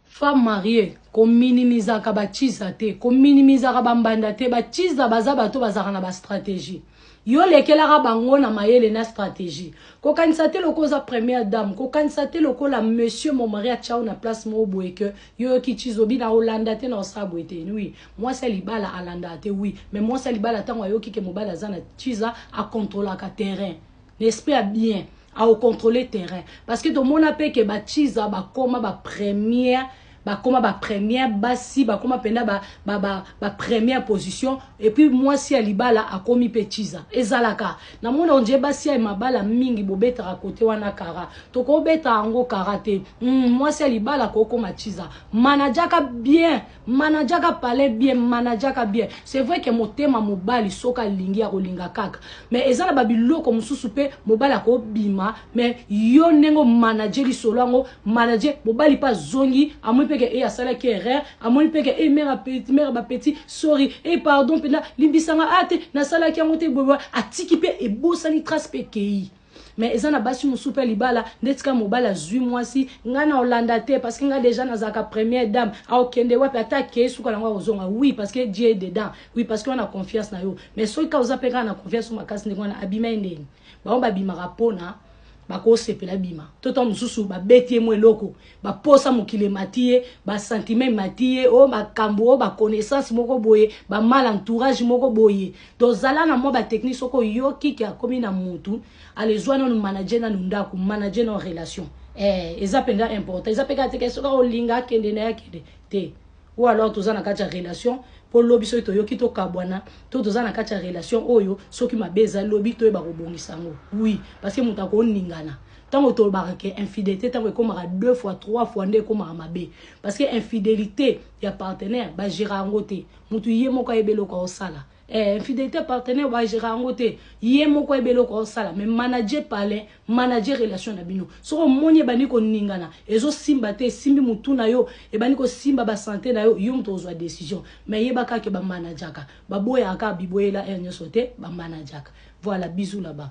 Femme marie ko minimizaka ba tshisa te ko minimizaka ba mbanda te ba tshisa baza bato bazalaka na ba strategie yo lekelaka bango na mayele na strategie ko kanisa te lokola oza première dame ko kanisa te lokola monsieur mon mari atiao na place moko boye que yo yoki tshisa obina olanda te na osala boye te oui mwasi ya libala alandaka te oui mais mwasi ya libala ntango ayoki ke mobali aza na tshisa a controlaka terrain na esprit ya bien au contrôler terrain parce que tomona pe que ba chiza bakoma ba première bakoma ba première basi bakoma penda ba ba ba, ba première position et puis mwasi ya libala akomi pe chiza ezalaka na mona onje basi ya mabala mingi bobetaka kote wana kara tokobeta yango kara te mm, mwasi ya libala kokoma chiza manajaka bien manajaka palais bien manajaka bien c'est vrai que motema mobali soki alingi akolinga kaka mais eza na babiloko mosusu mpe mobali akobima mais yo ndenge omanaje lisolo yango manaje mobali mpe azongi amoni mpe ke e asalaki erreur amoni mpe ke e mare apeti mare bapeti sorry e pardon mpenza limbisanga a te nasalaki yango te boboa atiki mpe ebosani trace mpe ekei Mais eza na basi mususu pe libala ndeti kaka mobali azui mwasi nga nao landa te parce que nga dejà nazalaka première dame ao kende wapi ata akeyi suka nango ako zonga oui parce que Dieu est dedans oui parce que wana confiance nayo mais soki kaka oza pe kaka na confiance nayo makasi ndenge wana abima ye ndeni bango ba bimaka pona bako sepela abima to tango mususu ba beti ye mwa eloko ba posa mokili emati ye ba sentiment emati ye o oh, makambo o oh, ba connaissance moko boye ba mal entourage moko boye to zala na mwa ba technique soko yoki ki akomi na mutu alezwa nanu manager nanu ndako manager na relation eh eza mpenza important eza mpe kaka te soki olinga akende na ye akende te Ou alors toza na kati ya relation po lobi soki toyoki to kabwana to toza na kati ya relation oyo soki mabe eza lobi toyeba kobongisa yango oui parce que moto akoningana ntango tolobaka ke infidelité ntango ekomaka deux fois trois fois nde ekomaka mabe parce que infidelité ya partenaire bagera yango te moto ye moko ayeba eloko aosala Eh, infidelite partenaire ba gera yango te ye moko ayeba eloko aosala mais manager palin manager relation na bino soki omoni ebandi koningana ezosimba te esimbi motu na yo ebandi kosimba basante na yo yo moto ozwa decision mais yeba kaka ke bamanajaka baboyaka kaka biboyela heure nyonso te bamanajaka voilà bisous là bas